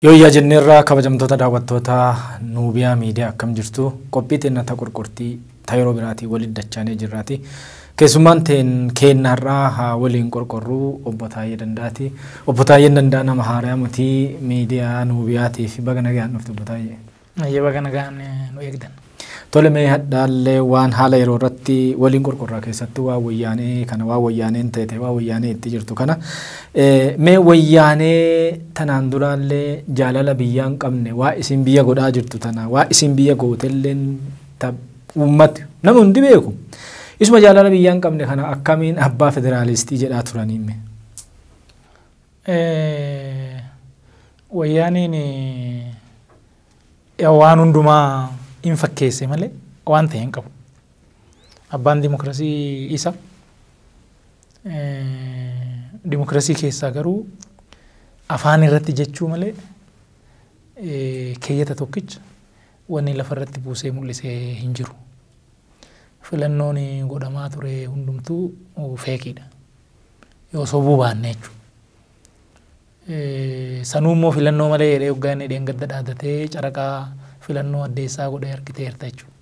Yooyyaa jenneerra kabajamtoota daawwattoota Nuubiyaa Miidiyaa akkam jirtu qophii teenna ta qorqortii ta yeroo biraatii walitti dachaanee jirraati. Keessummaan teen keenna har'aa haa waliin qorqorruu obbo Taayyee Danda'aati. Obbo Taayyeen Danda'a nama haarayaa mutii miidiyaa Nuubiyaatii fi baga nagayaan dhufte obbo Taayyee. Hayyee baga nagaan nu eegdan. Tole mee hadhaallee waan haala yeroo irratti waliin qorqorraa keessatti waa wayyaanee kana waa wayyaaneen teete waa wayyaanee itti jirtu kana mee wayyaanee tanaan duraallee jaalala biyyaa hin qabne waa isin biyya godhaa jirtu tana waa isin biyya gootelleen ta uummati nama hundi beeku isuma jaalala biyyaa hin qabne kana akkamiin abbaa federaalistii jedhaa turaniimme. Wayyaaneen waan hundumaa in fakkeesse malee waan ta'e hin qabu. Abbaan dimokiraasii isa. Dimokiraasii keessaa garuu afaan irratti jechuu malee keeyyata tokkicha wanni lafa irratti buusee mul'ise hin jiru. Filannoon godhamaa ture hundumtuu feekiidha. yoo sobuu baanne jechuudha. Sanuu immoo filannoo malee jedhee hoggaa inni dheengadda dhaadatee caraqaa filannoo addeessaa godhee argiteerta jechuudha.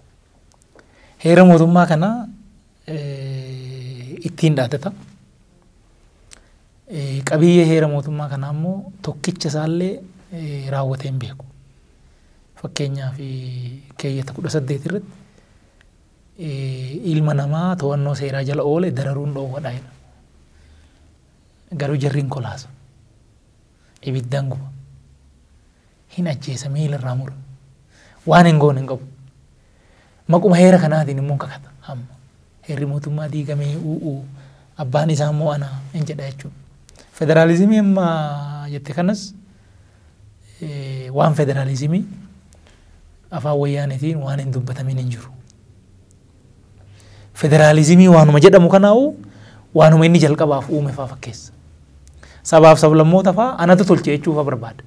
Heera mootummaa kana ittiin dhaadata. Qabiyyee heera mootummaa kanaa immoo tokkicha isaallee raawwatee hin beeku. Fakkeenyaaf keeyyata kudha saddeet irratti ilma namaa to'annoo seeraa jala oole dararuun dhoowwadha jedha. Garuu jarri hin kolaasu. Ibiddaan guba. Hin ajjeesa miila irraa mura. Waan hin goone hin qabu. Maquma heera kanaatiin immoo hin kakata amma. Heerri mootummaa diigamee u'uu abbaan isaa immoo ana hin jedha jechuudha. Federaalizimii amma jette kanas waan federaalizimii Afaan Wayyaaneetiin waan hin dubbatamin hin jiru. Federaalizimii waanuma jedhamu kanaa'u waanuma inni jalqabaaf uume faa fakkeessa. Sabaaf sablammoota faa anatu tolche jechuu faa barbaada.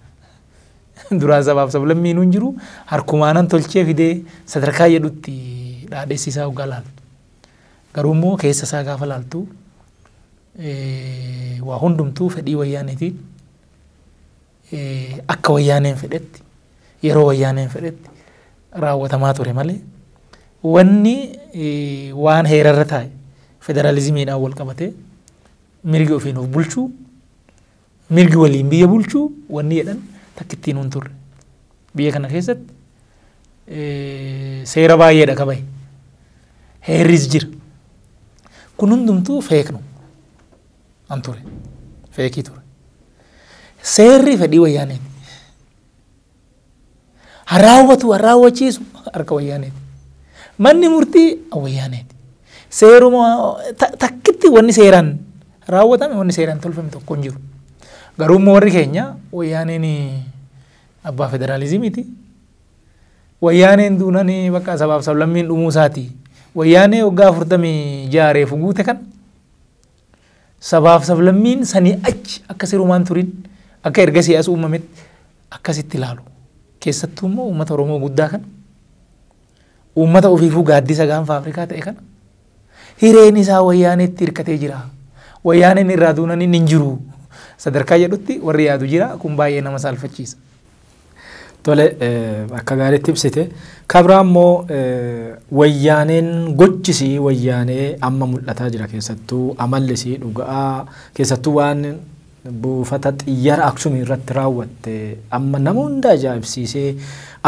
Duraan sabaaf sablammiinuu hin jiru harkumaanan tolchee fidee sadarkaa jedhutti dhaadhessi isaa hoggaa laaltu. Garuu immoo keessa isaa gaafa laaltu waa hundumtuu fedhii wayyaaneetiin akka wayyaaneen fedhetti yeroo wayyaaneen fedhetti raawwatamaa ture malee wanni waan heerarra taa'e federaalizimiidhaan wal qabatee mirgi ofiin of bulchuu mirgi waliin biyya bulchuu wanni jedhan takkittiin hin turre. Biyya kana keessatti seera baay'eedha qabaye. Heerris jira. Kun hundumtuu feeknu. an ture. Feekii ture. Seerri fedhii wayyaaneeti. Haa raawwatu, haa raawwachiisu harka wayyaaneeti. Manni murtii wayyaaneeti. Seeruma ta- takkitti wanni seeraan raawwatame wanni seeraan tolfame tokko hin jiru. Garuu immoo warri keenya wayyaaneen abbaa federaalizimiiti. Wayyaaneen duunaan bakka sabaaf sablammiin dhumuu isaati. Wayyaanee waggaa afurtamii ja'a reefu guute kan Sabaaf sablammiin sanii achi akka sirumaan turin akka ergasii as uumametti akkasitti ilaalu. Keessattuu immoo uummata Oromoo guddaa kana uummata ofiifuu gaaddisa gaanfa Afrikaa ta'e kana hireen isaa wayyaaneetti hirkatee jira. Wayyaaneen irraa duunan inni hin jiru. Sadarkaa jedhutti warri yaadu jira kun baay'ee nama saalfachiisa. Tole akka gaariitti ibsite. Kabraa immoo wayyaaneen gochisii wayyaanee amma mul'ataa jira keessattuu amallisii dhuga'aa keessattuu waan buufata xiyyara Aksumii irratti raawwatte amma nama hunda ajaa'ibsiisee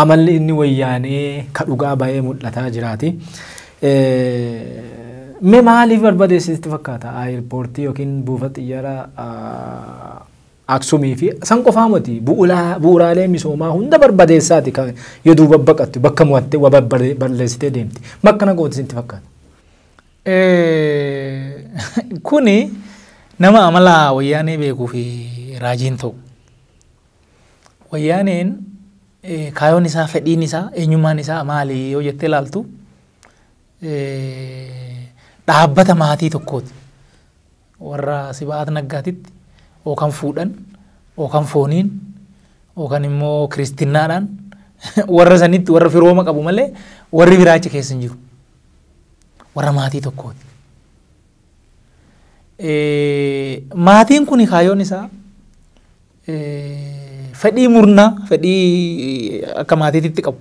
amalli inni wayyaanee ka dhugaa ba'ee mul'ataa jiraati. Mee maaliif barbadeessisitti fakkaata? Aayirpoortii yookiin buufata xiyyara Aksumii fi san qofaa moti bu'uraalee misoomaa hunda barbadeessaati kan yo duuba baqattu bakka mo'atte wa balleessitee deemti. Makkana gooti sinti fakkaata. Kuni nama amala wayyaanee beekuu fi raajiin ta'u. Wayyaaneen kaayoon isaa fedhiin isaa eenyummaan isaa maali yoo jettee laaltu dhaabbata maatii tokkooti. warra Siba'aat Naggaatitti ookan fuudhan, ookan fooniin, ookan immoo kiristinnaadhaan warra sanitti warra firooma qabu malee warri biraa achi keessa hin jiru. Warra maatii tokkooti. Maatiin kun kaayyoon isaa fedhii murnaa, fedhii akka maatiititti qabu.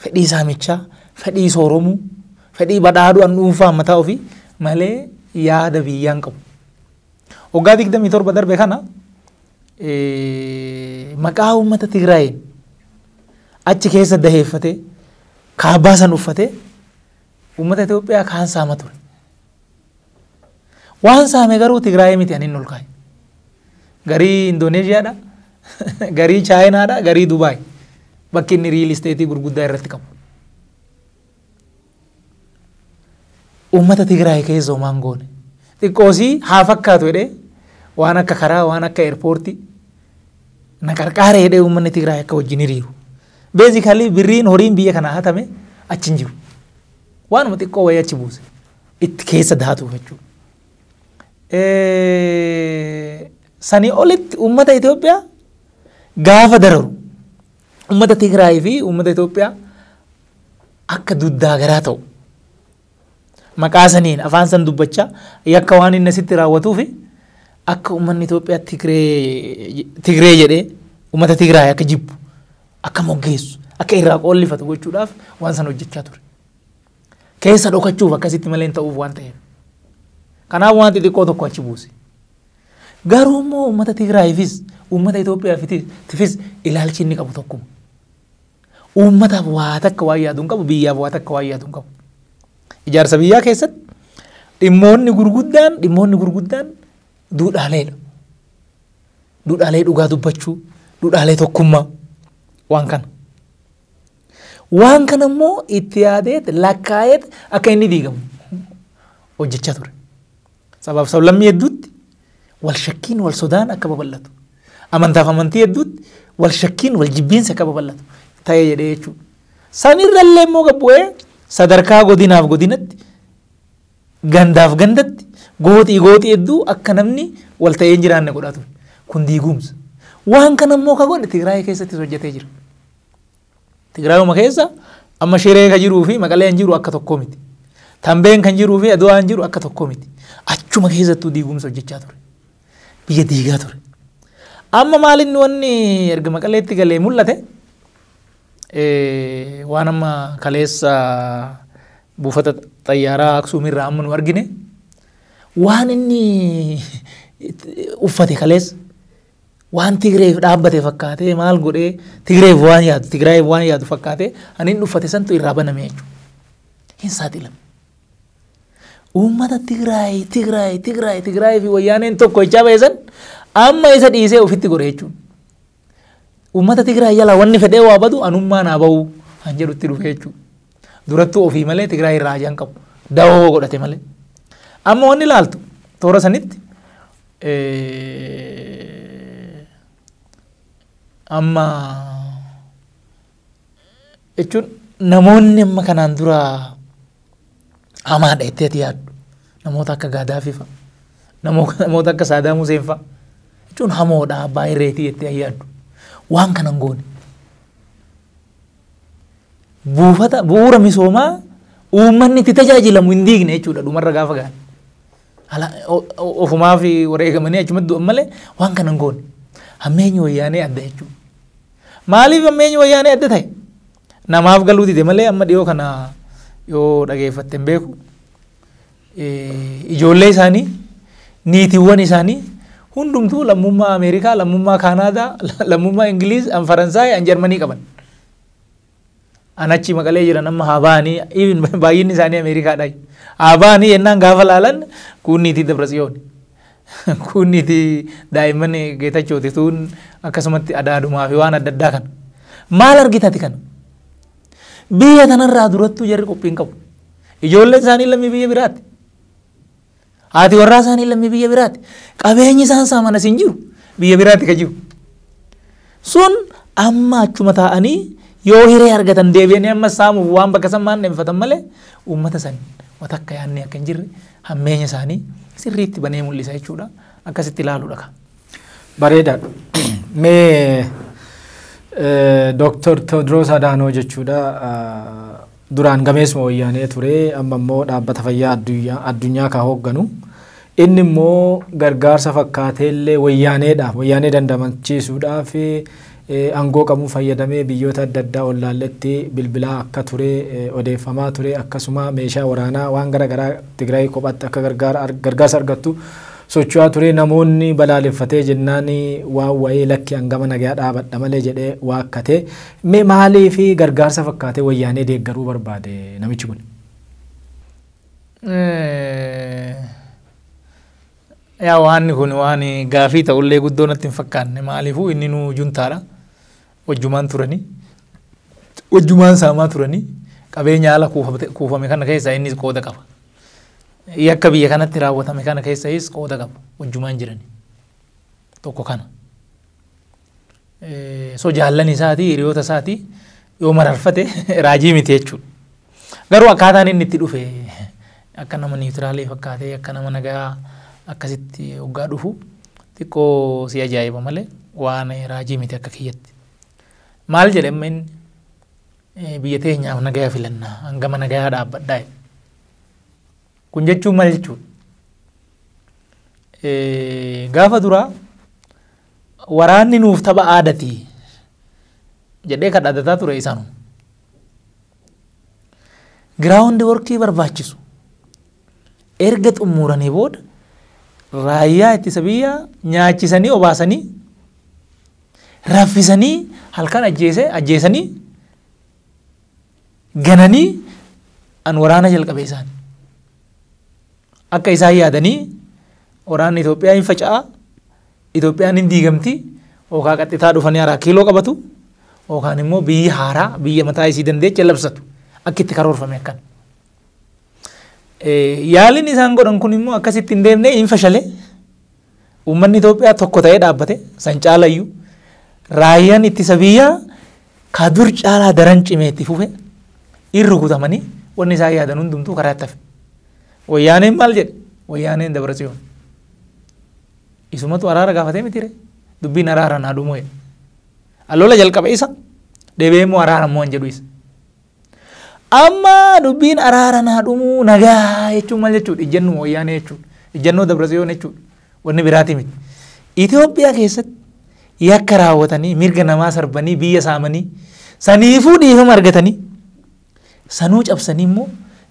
fedhii saamichaa, fedhii sooromuu, fedhii badhaadhu'an dhuunfaa mataa ofii malee yaada biyyaa hin qabu. Waggaa 27 darbe kana eh, maqaa uummata Tigraayiin achi keessa daheeffatee kaabaa san uffatee uummata Itoophiyaa kaan saama ture. Waan saame garuu Tigraayii miti ani hin olkaaye. Garii Indooneeshiyaadha, garii Chaayinaadha, garii Dubaay. Bakki inni riil isteetii gurguddaa irratti qabu. Uummata Tigraay keessa homaan goone. Xiqqoosii haa fakkaatu jedhee waan akka karaa, waan akka eerpoortii na qarqaaree jedhee uummanni Tigraay akka wajjin hiriiru. Beezikalii birriin horiin biyya kanaa hatame achi hin jiru. Waanuma xiqqoo wayii achi buuse. itti keessa daatu jechuudha. Eh, Sanii olitti uummata Itoophiyaa gaafa dararu uummata Tigraay fi uummata Itoophiyaa akka duddaa garaa ta'u maqaa saniin afaan san dubbachaa yakka waan inni asitti raawwatuu fi akka uummanni Itoophiyaa Tigree Tigree jedhee uummata Tigraay akka jibbu akka moggeessu akka irraa qoollifatu gochuudhaaf waan san hojjechaa ture. keessa dhokachuuf akkasitti malee hin ta'uuf waan ta'eef. Kanaaf waan xixiqqoo tokko achi buuse. Garuu immoo uummata Tigraayifis uummata Itoophiyaafis ilaalchi inni qabu tokkuma. Uummataaf waa takka waan yaadu hin qabu biyyaaf waa takka waan yaadu hin qabu. Ijaarsa biyyaa keessatti dhimmoonni gurguddaan dhimmoonni gurguddaan duudhaaleedha. Duudhaalee dhugaa dubbachuu, duudhaalee tokkummaa waan kana. Waan kana immoo itti yaadeet lakkaa'eet akka inni diigamu hojjechaa ture. Sabaaf sablammii hedduutti wal shakkiin wal sodaan akka babal'atu. Amantaaf amantii hedduutti wal shakkiin wal jibbiinsi akka babal'atu ta'ee jedhee jechuudha. Sanirra illee immoo gabbu'ee sadarkaa godinaaf godinatti gandaaf gandatti gooxii gooxii hedduu akka namni wal ta'ee hin jiraanne godhaa ture. Kun diigumsa. Waan kana immoo ka godhe Tigraay keessattis hojjetee jira. Tigraayuma keessa amma Shiree ka jiruu fi Maqaleen jiru akka tokko miti. Tambeen kan jiruu fi Adwaan jiru akka tokko miti. Achuma keessattuu diigumsa hojjechaa ture. Biyya diigaa ture. Amma maalinni wanni erga Maqaleetti galee mul'ate waan amma kaleessa buufata xayyaaraa Aksuumirraa amma nu argine waan inni uffate kaleessa waan Tigreef dhaabbate fakkaatee maal godhee Tigreef waan yaadu Tigraayeef waan yaadu fakkaatee ani hin dhuffate santu irraa baname jechuudha. Hin saaxilame. Uummata Tigraay Tigraay Tigraay Tigraay fi wayyaaneen tokko jechaa ba'e san amma isa dhiisee ofitti godhe jechuudha. Uummata Tigraay jalaa wanni fedhee waa badu anummaa naa ba'uu kan jedhutti dhufe jechuudha. Durattuu ofii malee Tigraay irraa hajaan qabu. Dawoo godhate malee. Amma wanni ilaaltu toora sanitti Amma jechuun namoonni amma kanaan dura hamaadha jettee ati yaaddu namoota akka Gaadaafii fa'a namoota akka Saadaam Huseen fa'a jechuun hamoodha baay'ee reetii jettee yaaddu waan kana hin goone. Buufata bu'uura misoomaa uummanni itti tajaajilamu hin diigne jechuudha dhumarra gaafa gahan. Ala- o- o- Ofumaaf wareegamanii achumatti du'an malee waan kana hin goone. Hammeenyi wayyaanee adda jechuudha. Maaliif hammeenyi wayyaanee adda ta'e? Namaaf galuu dide malee amma dhiyoo kana yoo dhageeffatte hin beeku. Eh, Ijoollee isaanii, niitiiwwan isaanii hundumtuu lammummaa Ameerikaa, lammummaa Kaanaadaa, lammummaa Ingiliiz, an Faransaay, an Jarmanii qaban. An achi maqalee jiran amma haa ba'anii even baay'inni isaanii Ameerikaadha. Haa ba'anii yennaan gaafa laalan kuunniitii Dabratsiyoon. Kuunniitii daa'imman Geetachooti tuun akkasumatti adaadumaa fi waan adda addaa kana. Maal argitati kana? Biyya tanarraa durattuu jarri qophiin qabu. Ijoolleen isaanii lammii biyya biraati. Haati warraa isaanii lammii biyya biraati. Qabeenyi isaan saamanas hin jiru. Biyya biraati ka jiru. Sun amma achuma taa'anii yoo hiree argatan deebi'anii amma saamuuf waan bakka san maan dheeffatan malee uummata san wata akka yaannee akka hin jirre hammeenya isaanii sirriitti banee mul'isa jechuudha. Akkasitti ilaaluudha kan. Bareedaa. Mee Dooktar Tewoodiroos Adaanoo jechuudha. Duraan gameessuma Wayyaanee ture, amma immoo Dhaabbata Fayyaa Adduyyaa, Addunyaa ka hoogganu. Inni immoo gargaarsa fakkaatee illee Wayyaaneedhaaf, Wayyaanee dandamachiisuudhaaf eh, aangoo qabuun fayyadamee biyyoota adda addaa ollaalletti bilbilaa akka ture eh, odeeffamaa ture. Akkasuma meeshaa waraanaa waan gara garaa Tigraay kophaatti akka gargaara, ar- gargaarsa argattu socho'aa ture. Namoonni balaaleffatee jennaan waan wayii lakki hangama nagaa dhaabadha malee jedhee waakkate. Mee maaliif gargaarsa fakkaatee wayyaanee deeggaruu barbaade namichi kun? Yaa waanni kun waan gaafii ta'ullee guddoo natti hin fakkaanne maaliifuu inni nuu juntaadha wajjumaan turanii wajjumaan saamaa turanii qabeenya haala kuufame kana keessaa innis qooda qaba. Yakka biyya kanatti raawwatame kana keessayis qooda qaba wajjumaan jiranii tokko kana. so jaallan isaatii hiriyoota isaatii yoo mararfate raajii miti jechuudha. Garuu akkaataan inni itti dhufe akka nama niitiraalee fakkaatee akka nama nagaa akkasitti hoggaa dhufu xiqqoo si ajaa'iba malee waan raajii miti akka kiyyatti. Maal jedhe amma inni eh, biyya teenyaaf nagaa filannaa hangama nagaa dhaabbadhaa jedhe. Kun jechuun maal jechuudha? Eh, Gaafa duraa Waraanni nuuf tapha aadati jedhee kan dhadataa ture isaanuma. Giraawundi workii barbaachisu erga xumuranii booda raayyaa ittisa biyyaa nyaachisanii obaasanii raffisanii halkan ajjeesanii gananii an waraana jalqabe isaan. Akka isaan yaadanii waraanni Itoophiyaa hin faca'a, Itoophiyaan hin diigamti, yookaan qaxxitaa dhufanii haraa kiiloo qabatu, yookaan immoo biyyi haaraa biyya mataa isii dandeecha labsatu akka itti karoorfame akkan. Yaaliin isaan godhan kun immoo akkasitti hin deemne hin fashale. Uummanni Itoophiyaa tokko ta'ee dhaabbate san caalayyu raayyaan ittisa biyyaa ka dur caalaa daran cimee itti fufe in rukutamanii wanni isaan yaadan hundumtuu karaa itti hafe. Wayyaaneen maal jedhe? Wayyaaneen dabra tsiyoon. Isumatu araara gaafatee mitire dubbiin araara naa dhumuu jedhe. Alola jalqabe isa deebi'ee immoo araara immoo hin jedhu isa. Amma dubbiin araara naa dhumuu nagaa jechuun maal jechuudha? Ijjannoo wayyaanee jechuudha. Ijjannoo Dabratsiyoon jechuudha. Wanni biraatii miti. Itoophiyaa keessatti yakka raawwatanii mirga namaa sarbanii biyya saamanii saniifuu dhiifama argatanii sanuu cabsanii immoo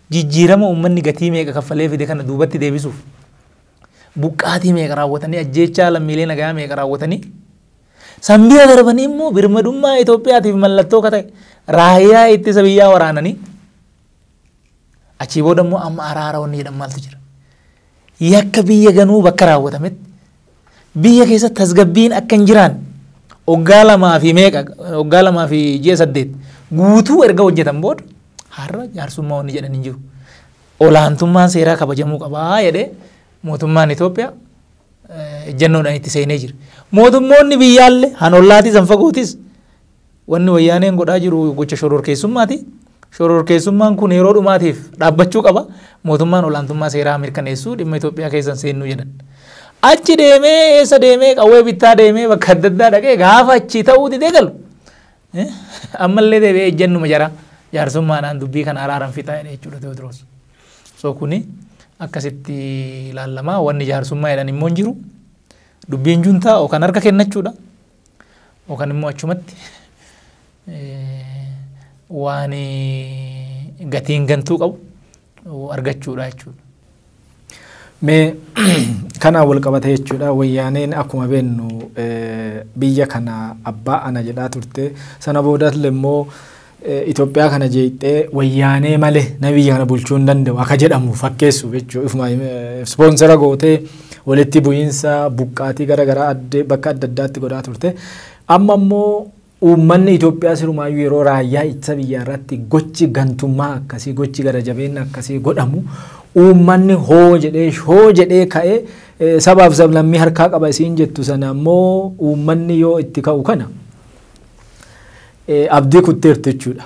jijjiirama uummanni gatii meeqa kaffalee fide kana duubatti deebisuuf buqqaatii meeqa raawwatanii ajjeechaa lammiilee nagaa meeqa raawwatanii San bira darbanii immoo birmadummaa Itoophiyaatiif mallattoo akka ta'e raayyaa ittisa biyyaa waraananii achii booda immoo amma araara wanni jedhan maaltu jira. Yakka biyya ganuu bakka raawwatametti biyya keessa tasgabbiin akka hin jiraan waggaa lamaa fi meeqa waggaa lamaa fi ji'a saddeet guutuu erga hojjetan booda har'a jaarsummaa wanni jedhan hin jiru. Olaantummaan seeraa kabajamuu qabaa jedhee mootummaan Itoophiyaa ejjannoodhaan itti seenee jira. Mootummoonni biyyaalle han ollaatis han fagootis wanni wayyaaneen godhaa jiru gocha shororkeessummaati. Shororkeessummaan kun yeroo dhumaatiif dhaabbachuu qaba. Mootummaan olaantummaa seeraa mirkaneessuu dhimma Itoophiyaa keessan seennuu jedhan. Achi deemee eessa deemee qawwee bittaa deemee bakka adda addaa dhaqee gaafa achi ta'uu didee galu. Ammallee deebi'ee ejjannuma jaraa jaarsummaadhaan dubbii kana araaran fixaa jechuudha Tewoodiroos. So kuni akkasitti ilaallama. Wanni jaarsummaa jedhan immoo hin jiru. Dubbiin juntaa yookaan harka kennachuudha. Yookaan immoo achumatti waan gatiin gantuu qabu argachuudha jechuudha. Mee kanaan wal qabata jechuudha wayyaaneen akkuma beennu biyya kana abbaa ana jedhaa turte sana boodas immoo Itoophiyaa kana jeeqxee wayyaanee malee nama biyya kana bulchuu hin danda'u akka jedhamu fakkeessu jechuudha. Ofuma ispoonsera gootee walitti bu'iinsa buqqaatii gara garaa adde bakka adda addaatti godhaa turte. Amma immoo uummanni Itoophiyaa sirumaayyuu yeroo raayyaa ittisa biyyaa irratti gochi gantummaa akkasii gochi gara jabeenna akkasii godhamu uummanni hoo jedhee hoo jedhee ka'ee eh, sabaaf sablammii harkaa qaba isiin jettu sana immoo uummanni yoo itti ka'u kana abdii kutteertu jechuudha.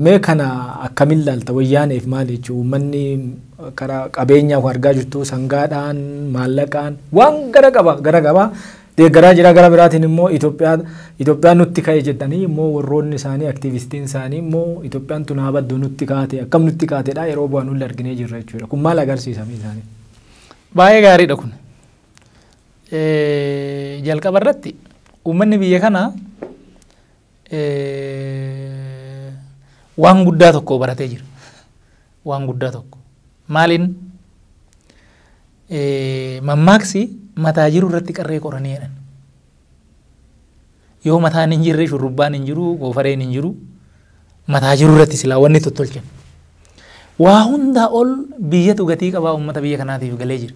Mee kana akkamin laalta wayyaaneef maali jechuudha uummanni kara qabeenyaaf argaa jirtu sangaadhaan maallaqaan waan gara qaba gara qaba deeggaraa jira gara biraatiin immoo Itoophiyaa Itoophiyaan nutti ka'e jedhanii immoo warroonni isaanii aktiivistiin isaanii immoo Itoophiyaan tun haa baddu nutti kaate akkam nutti kaatedha yeroo bu'aa nulle arginee jirra jechuudha kun maal agarsiisa isaanii. Baay'ee gaariidha kun. Jalqaba irratti uummanni biyya kanaa waan guddaa tokko baratee jira. Waan guddaa tokko. Maaliin mammaaksi mataa jiru irratti qarree qoranii jedhan. Yoo mataan hin jirre shurrubbaan hin jiru, goofareen hin jiru. Mataa jiru irratti silaa wanni tottolchan. Waa hundaa ol biyyatu gatii qabaa uummata biyya kanaatiif galee jira.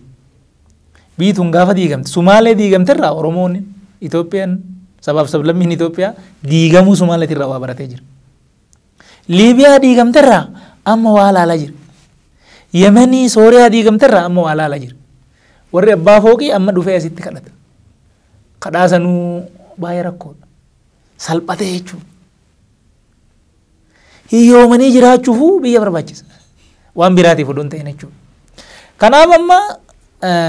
biituun gaafa diigamte sumaalee diigamte irraa oromoon Itoophiyaan sabaaf sablammiin Itoophiyaa diigamuu sumaaleetii irraa waa baratee jira. Liibiyaa diigamte irraa amma waa laalaa jira. Yemenii Sooriyaa diigamte irraa amma waa laalaa jira. Warri abbaa fooqii amma dhufee asitti kadhata. Kadhaa sanuu baay'ee rakkoodha. Salphatee jechuudha. hiyyoomanii jiraachuufuu biyya barbaachisa. Waan biraatiif odoo hin ta'in jechuudha. Kanaaf amma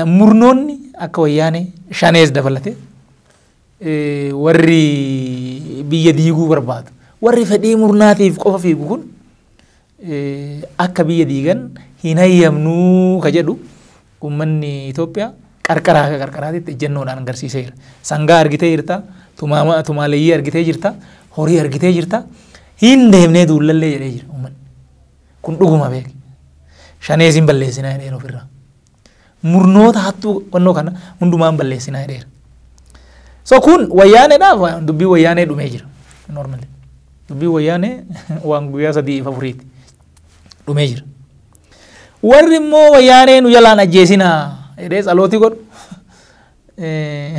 murnoonni akka wayyaanee shanees dabalatee warri biyya diiguu barbaadu warri fedhii murnaatiif qofa fiigu kun akka biyya diigan hin hayyamnuu ka jedhu uummanni Itoophiyaa qarqaraa akka qarqaraatitti ejjennoodhaan agarsiiseera. Sangaa argitee jirta, tumaama- tumaaleeyyii argitee jirta, horii argitee jirta, hin deemnee duullallee jedhee jira uummanni. Kun dhuguma beeki. Shanees hin balleessinaa jedheera ofirraa. murnoota hattuu qonnoo kana hundumaa hin balleessinaa jedheera. So kun wayyaaneedhaaf wa- dubbii wayyaanee dhumee jira. Normally. Dubbii wayyaanee waan guyyaa sadii fi afuriiti. Dhumee jira. Warri immoo wayyaanee nu jalaan ajjeesinaa jedhee tsalootii godhu. Eh,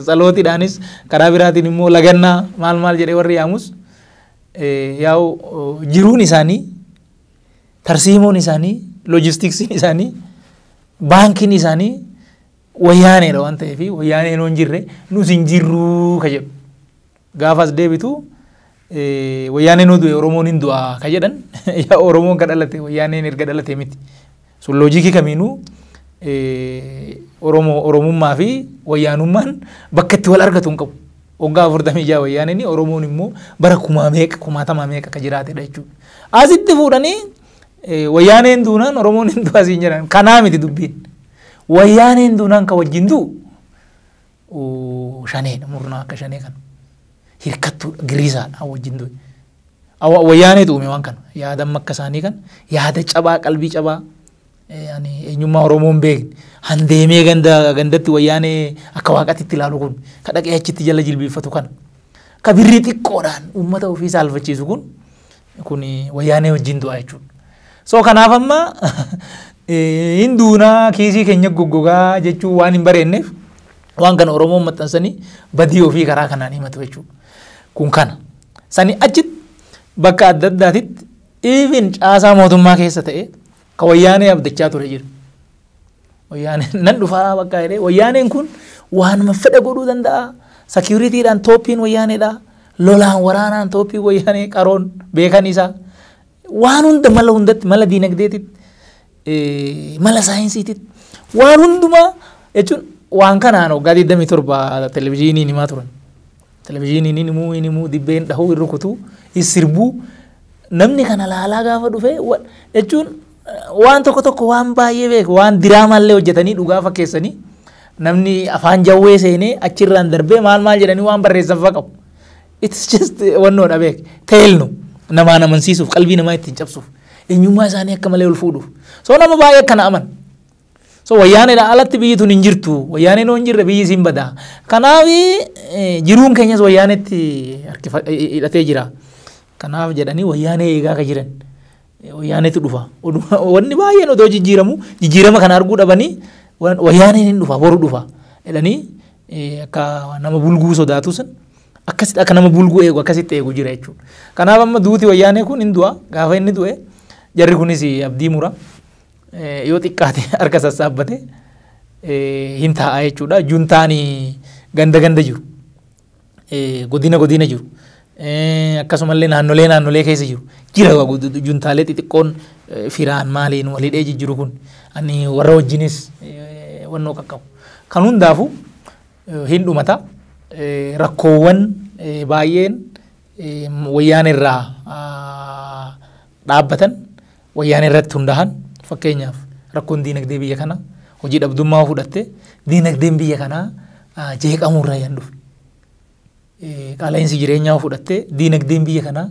Tsalootiidhaanis karaa biraatiin immoo lagannaa maal maal jedhee warri yaamus eh, yaa'u oh, jiruun isaanii Tarsiimoon isaanii, loojistiksiin isaanii, baankiin isaanii wayyaaneedha waan ta'eef wayyaaneen hin jirre nus hin jirruu ka jedhu. Gaafas deebitu wayyaaneen du'e Oromoon hin du'a ka jedhan Oromoon ka dhalate wayyaaneen erga dhalate miti. Sun loojiikii kamiinuu Oromoo Oromummaa fi Wayyaanummaan bakka itti wal argatu hin qabu. Waggaa afurtamii jaha Wayyaaneen Oromoon immoo bara kumaa meeqa kumaatamaa meeqa akka jiraatedha jechuudha. Asitti fuudhanii Wayyaaneen duunaan Oromoon hin du'aa siin jedhan kanaa miti dubbiin. Wayyaaneen duunaan kan wajjin du'u shaneedha murnaa akka shanee kana hirkattuudha giriisaadha wajjin du'e. Awa- Wayyaaneetu uume waan kana yaada amma akka isaanii kan yaada cabaa qalbii cabaa eh, ani eenyummaa Oromoo hin beekne handeemee ganda gandatti wayyaanee akka waaqatti itti ilaalu kun ka dhaqee achitti jala jilbiiffatu kana ka birrii xiqqoodhaan uummata ofii saalfachiisu kun Kun wayyaanee wajjin du'aa jechuudha. So kanaaf amma hin duunaa kiisii keenya goggogaa jechuu waan hin bareenneef waan kana Oromoon maxxansanii badii ofii karaa kanaan himatu jechuudha. Kun kana. Sani achitti bakka adda addaatitti even caasaa mootummaa keessa ta'e ka wayyaanee abdachaa ture jira. Wayyaaneen nan dhufaa bakka jedhee wayyaaneen kun waanuma fedha godhuu danda'a. Sakiyuritiidhaan tooppiin wayyaaneedha. Lolaan waraanaan tooppiin wayyaanee qaroon beekan isaa. Waan hunda mala hundatti mala diinagdeetitti eh, mala saayinsiititti waan hundumaa jechuun waan kanaan waggaa 27 televezyiiniin himaa turan. Televizhiiniin hin himuu hin himuu dibbee hin dhahuu hin rukutuu hin sirbuu namni kana laalaa gaafa dhufee jechuun waan tokko tokko waan baay'ee beeku waan diraamaallee hojjetanii dhugaa fakkeessanii namni afaan jawwee seenee achirraan darbee maal maal jedhanii waan barreessan fa'a qabu. It's just wannoodha beek teelnu namaan amansiisuuf qalbii namaa ittiin cabsuuf eenyummaa isaanii akka malee ol fuudhuuf soo nama baay'ee akkana aman. So wayyaaneedha alatti biyyi tun hin jirtu. Wayyaaneen yoo hin jirre biyyi siin bada. Kanaaf jiruun keenyas wayyaaneetti hidhatee jira. Kanaaf jedhanii wayyaanee eegaa ka jiran. Wayyaaneetu dhufa. Wanni baay'een odoo jijjiiramu jijjiirama kana arguu dhabanii wayyaaneen hin dhufa boru dhufa jedhanii akka nama bulguu sodaatu sun akkasitti akka nama bulguu eegu akkasitti eegu jira jechuudha. Kanaaf amma duuti wayyaanee kun hin du'a gaafa inni du'e jarri kunis abdii mura. yoo xiqqaate harka sassaabbate hin taa'a jechuudha. Juntaan ganda ganda jiru. Godina godina jiru. Akkasumallee naannolee naannolee keessa jiru. Jira juntaalee xixiqqoon firaan maaliin walidhee jijjiru kun. Ani warra wajjinis wannoo qaqqabu. Kan hundaafu hin dhumata. Rakkoowwan baay'een wayyaan irraa dhaabbatan Wayyaanee irratti hundaahan fakkeenyaaf rakkoon diinagdee biyya kana hojii dhabdummaa yoo fudhatte diinagdeen biyya kanaa jeeqamuu irraa yan dhufe. Qaala'insi jireenyaa yoo fudhatte diinagdeen biyya kanaa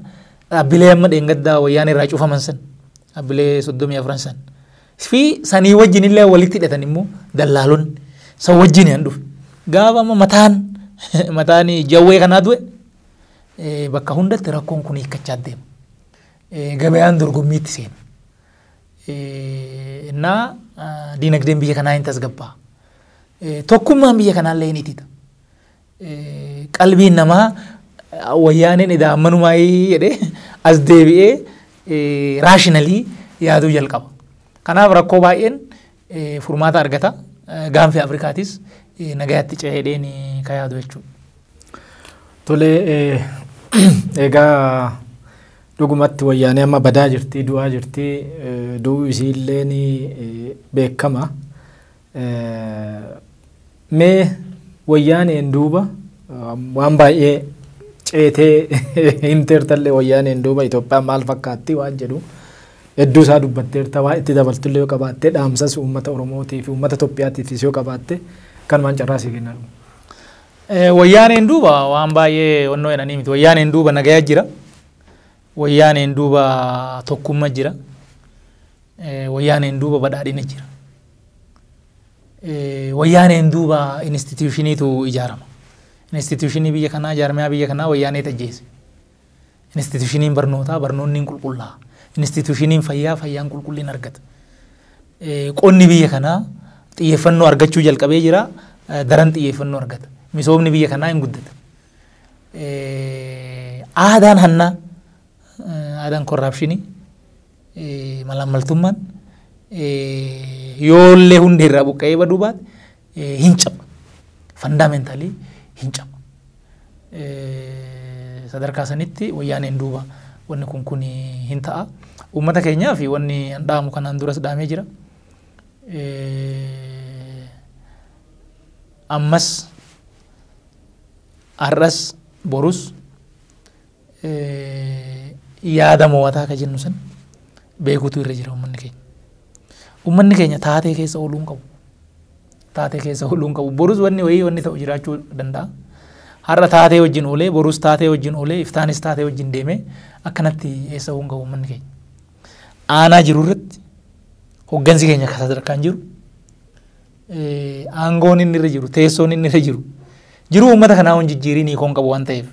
dhaabbilee amma dheengaddaa wayyaanee irraa cufaman san dhaabbilee soddomii afran san fi sanii wajjin illee walitti hidhatan immoo dallaalonni san wajjin yan dhufe. Gaafa amma mataan mataan jawwee kanaa du'e bakka hundatti rakkoon kun hiikkachaa deema. gabayaan dorgommiitti seenu. Innaa diinagdeen biyya kanaa hin tasgabbaa. Tokkummaan biyya kanaallee hin itita. Qalbiin namaa wayyaaneen edaa ammanumaa jedhee as deebi'ee raashinalii yaaduu jalqaba. Kanaaf rakkoo baay'een furmaata argata. Gaanfi Afrikaatis nagayaatti ce'eedheen ka yaadu jechuudha. Tole egaa dhugumatti wayyaanee amma badaa jirti, du'aa jirti, du'uu isiillee ni beekama. Mee wayyaaneen duuba waan baay'ee ceetee himteertallee wayyaaneen duuba Itoophiyaan maal fakkaatti waan jedhu hedduu isaa dubbatteerta waa itti dabaltullee yoo qabaatte dhaamsas uummata Oromootii fi uummata Itoophiyaatiifis yoo qabaatte kanumaan carraa sii kenna dhuma. Wayyaaneen duuba waan baay'ee onnoo jedhanii miti wayyaaneen duuba nagaya jira wayyaaneen duuba tokkumma jira wayyaaneen duuba badhaadhina jira. Wayyaaneen duuba institiyuushiniitu ijaarama. Institiyuushinii biyya kanaa, jaarmiyaa biyya kanaa wayyaaneet ajjeese. Institiyuushiniin barnootaa, barnoonni hin qulqullaa'a. Institiyuushiniin fayyaa, fayyaan qulqullina argata. Qonni biyya kanaa xiyyeeffannoo argachuu jalqabee jira, daran xiyyeeffannoo argata. Misoomni biyya kanaa hin guddata. Aadaan hannaa, aadaan korraapshinii, malaammaltummaan yoollee hundee irraa buqqa'ee baduu baate hin caba. Fandaameentalii hin caba. Sadarkaa sanitti wayyaaneen duuba wanni kun kun hin ta'a. Uummata keenyaa fi wanni an dhaamu kanaan duras dhaamee jira. Ammas har'as borus yaada moo'ataa ka jennu san beekuutu irra jira ummanni keenya. Ummanni keenya taatee keessa ooluu hin qabu. Taatee keessa ooluu hin qabu. Borus wanni wayii wanni ta'u jiraachuu danda'a. Har'a taatee wajjin oolee, borus taatee wajjin oolee, iftaanis taatee wajjin deemee akkanatti eessa hin qabu ummanni keenya. Aanaa jiru irratti hoggansi keenya akka sadarkaan jiru aangoon inni irra jiru, teessoon inni irra jiru jiruu uummata kanaa hin jijjiirin hiikoon qabu waan ta'eef.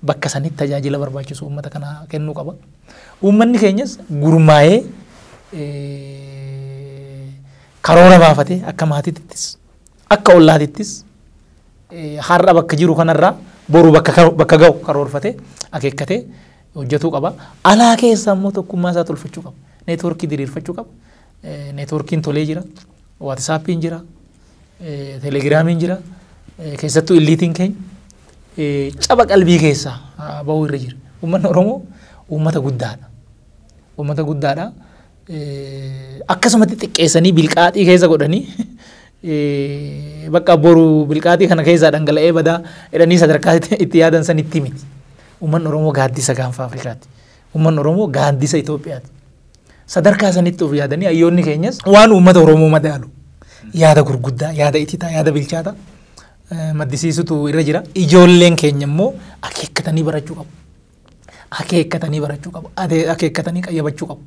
bakka sanitti tajaajila barbaachisu uummata kana kennuu qaba. Uummanni keenyas gurmaa'ee karoora baafatee akka maatiittis akka ollaatittis har'a bakka jiru kanarraa boru bakka ga'u karoorfatee akeekkatee hojjetuu qaba. Alaa keessa immoo tokkummaa isaa tolfachuu qaba. Neetwoorkii diriirfachuu qaba. Neetwoorkiin tolee jira. Waatisaappiin jira. telegiraamiin jira. Keessattuu illiitiin keenya caba qalbii keessaa ba'uu irra jira. Uummanni Oromoo uummata guddaadha. Uummata guddaadha. Akkasumatti xiqqeessanii bilqaaxii keessa godhanii bakka boru bilqaaxii kana keessaa dhangala'ee badaa jedhanii sadarkaa itti yaadan san itti miti. Uummanni Oromoo gaaddisa gaanfa Afrikaati. Uummanni Oromoo gaandisa Itoophiyaati. Sadarkaa sanitti of yaadanii hayyoonni keenyas waan uummata Oromoo madaalu yaada gurguddaa, yaada ititaa, yaada bilchaata eh, maddisiisutu irra jira. Ijoolleen keenya immoo akeekkatanii barachuu qabu. Akeekkatanii barachuu qabu. Ade- Akeekkatanii qayyabachuu qabu.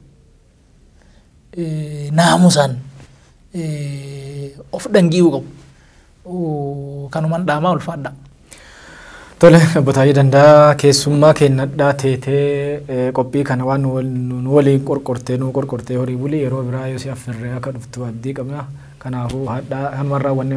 naamusaan of dhangi'uu qabu. Kanuman dhaamaa ulfaadha. Tole obbo Taayee Dandaa keessummaa keennadhaa teetee qophii kana waan nu waliin qorqortee nu qorqortee horii bulii yeroo biraa yoo si affirree akka dhuftu abdii qabna. Kanaafuu hadhaa kanumarraa wanni